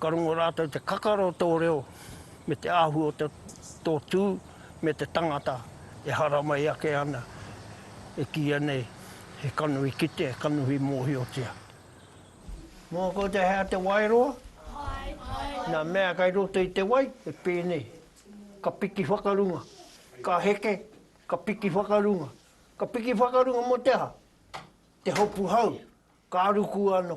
Ka rongo rātou te kakara o tō reo me te āhua o te, tō tū me te tangata e haramai ake ana, e kīia nei he kanohi kite, kanohi mōhiotia. Mō koutou he aha te waeroa? Nā mea kei roto i te wai, he pēnei, ka piki whakarunga, ka heke, ka piki whakarunga. Ka piki whakarunga mō te aha? Te hopu hau, ka ruku anō.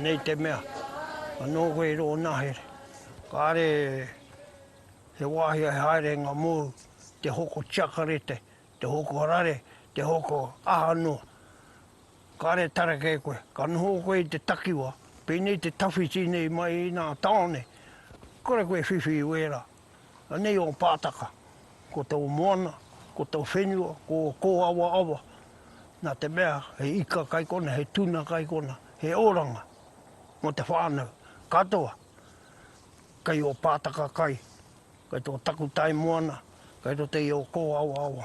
Nei te mea, anō koe i rō nahere, kāre he wāhi e haere ngā mōu, te hoko tiakarete, te hoko rare, te hoko aha noa. Kāre tareke koe, ka noho koe i te takiwā, pēnei te tawhiti nei mai i nā tāone, kore koe whiwhi i wērā, Anei ō pātaka, ko tō moana, ko tō whenua, ko ō kōawaawa, nā te mea he ika kai kona, he tuna kai kona, he oranga mō te whānau katoa kei ō pātaka kai, kei tō takutai moana, kei roto i ō kōawaawa.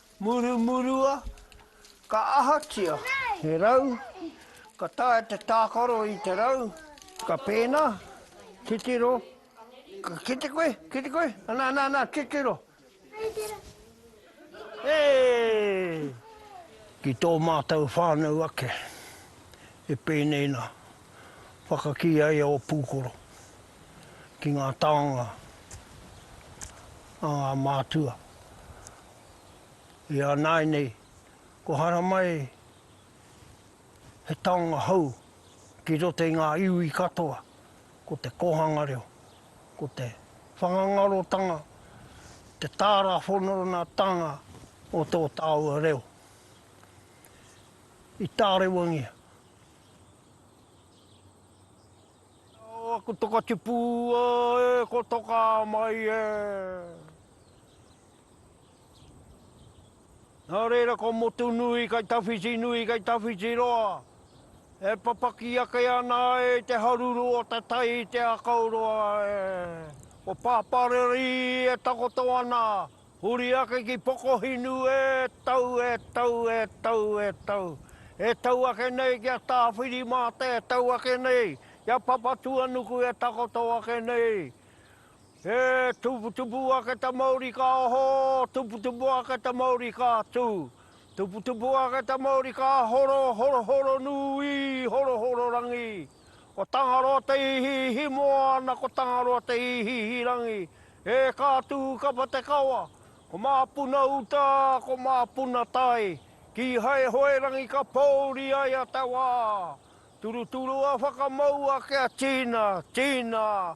Murumurua, ka ahatia he rau, ka taea te tākaro i te rau, ka pēnā, titiro, ka kite koe, kite koe, anā, anā, anā, titiro. Hei! Ki tō mātou whānau ake, e pēnei nā, whakakī ai a Ōpūkoro ki ngā taonga a ngā mātua. I a nāinei, ko haramai he taonga hou ki roto i ngā iwi katoa, ko te kōhanga reo, ko te whakangarotanga, te tāra whononatanga o tō tāua reo. I tārewangia. Ko Toka Tipū e, ko Toka mai e. Nā reira ko Motunui kei tawhiti nui, kei tawhiti roa, e papaki ake ana ai te haruru o te tai i te akauroa e. Ko Pāpārerii e takoto ana, huri ake ki Pokohinu e tau, e tau, e tau, e tau. E tau ake nei ki a Tāwhirimāta, e tau ake nei ki a Papatuanuku e takoto ake nei. He tuputupu ake ta Maori ka ho, tuputupu ake ta Maori ka tu, tuputupu ake ta Maori ka horo, horohoro nui, horohoro rangi. Ko Tangaroa te ihiihi moana, ko Tangaroa te ihiihi rangi. E ka tu kapa te kawa, ko Mapuna uta, ko Mapuna tai, kihai hoe rangi ka pouri ai a te wa. Turuturua whakamau ake a Tina, Tina,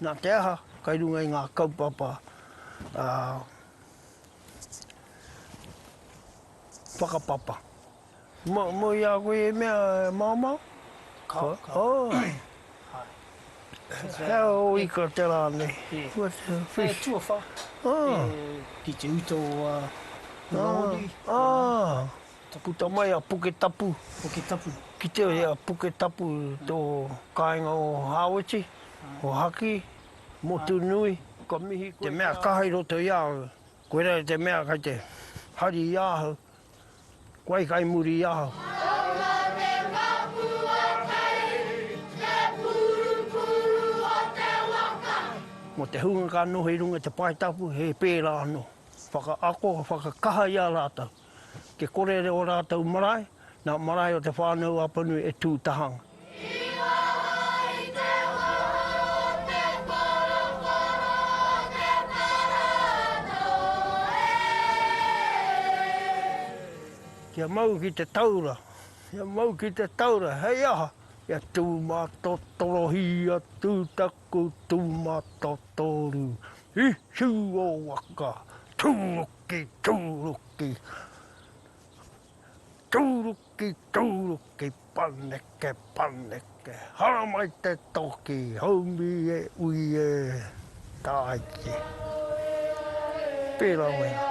Nā te aha, kei runga i ngā kaupapa whakapapa. Moe i a koe e mea e maomao? Kāore. Hea ō ika te rā nei? He tuawhā, ki te uta o ngā hōne. Ka puta mai a Puketapu. Puketapu. Kitea e a Puketapu tō kāinga o Hāweti, o Haki, Motunui, ka mihi koe. Te mea kaha i roto i a au, koirā te mea kei te hari i ahau, koe kai muri i ahau. Kaua te paku o Tei, te purupuru o te waka. Mō te hunga ka noho i runga i te pae tapu, he pērā anō. Whakaako, whakakaha i a rātou. Te korere o rātou marae, nā marae o Te Whānau-a-Apanui e tū taha ana. Kia mau ki te taura, kia mau ki te taura, hei aha? Kia tūmatotorohi atu taku tūmatotōru i hiu o waka, tū! Ki tūruki, tūruki, tūruki, paneke, paneke, haramai te toki, haumi e ui e, tāiki. Pērā wena.